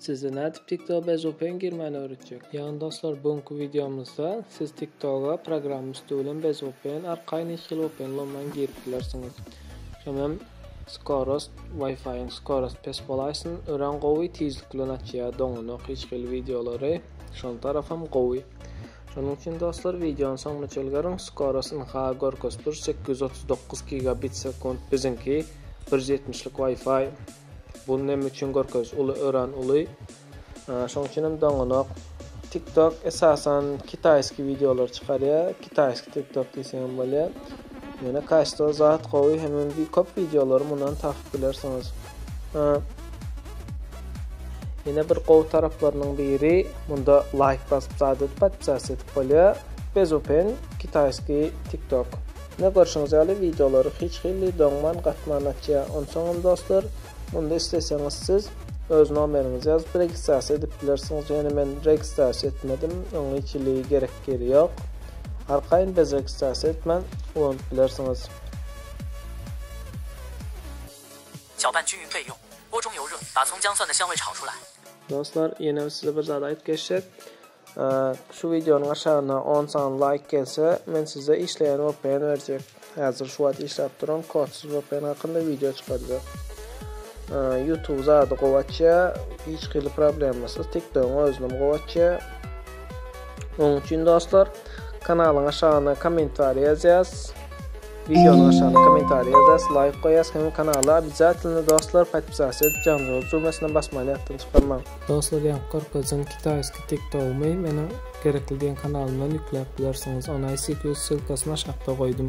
Size nädip TikTok bezgpen girmäni öwretjek. Ýagny dostlar bu günki wideomyzda siz TikToga programma üsti bilen bezgpen arkaýyn hiç hili vpn ulanman girip bilersiňiz. Şoňa hem skorost wifiň skorost pes bolaýsyn örän gowy tizlik bilen açýar doňanok hiç hili wideolary şol tarapam gowy. Şonuň üçin dostlar wideony soňuna çelgeriň skorost ynha görkezip dur sekiz ýüz otuz dokuz gigabit sekunt biziňki bir ýüz ýetmiş lik wifi Bu näme üçin görkeziş uly öran uly şoň üçin hem doňanok. TikTok esasan kitaýski wideolar çykarýar. Kitaýski TikTok diýseň hem bolýar. Ýöne kaçto zat gowy hem hem bir köp wideolary mundan tapyp bilersiňiz. Ýene bir gowy taraplarynyň biri munda laýk basyp zat edip podpisa edip bolýar. Bezupen kitaýski TikTok. Ine görşüňiz ýaly wideolary hiç hili doňman gatman açýa. Onsoňam dostlar, munda isleseňiz siz öz nomeriňizi ýazyp registrasiýa edip bilersiňiz. Ýöne men registrasiýa etmedim, öň hiç hili gerek ýeri ýok. Arkaýyn bez registrasiýa etmän ulanyp bilersiňiz. Dostlar, ýenem size bir zat aýyp geçjek. Şu wideonyň aşagyna on sany laýk gelse, men size işleýän vpn berjek. Häzir şu wagt işläp duran kodsyz vpn hakynda wideo çykarjak. Youtube zady gowy açýar, hiç hili problemasyz, TikTogyň özünem gowy açýar. Onuň üçin dostlar, kanalyň aşagyna kommentariý ýazýas. Videonun aşagyna kommentariý ýazas, laýk goýas hem kanala obýazatylny dostlar podpisasiýa edip janjygaz düwmesine basmany ýatdan çykarmaň. Dostlar ýaňky gyrkaýjyň kitaýski tik togymy meniň Gerekli diýen kanalymdan ýükläp bilersiňiz. Ony ICQ ssylkasyny aşakda goýdum.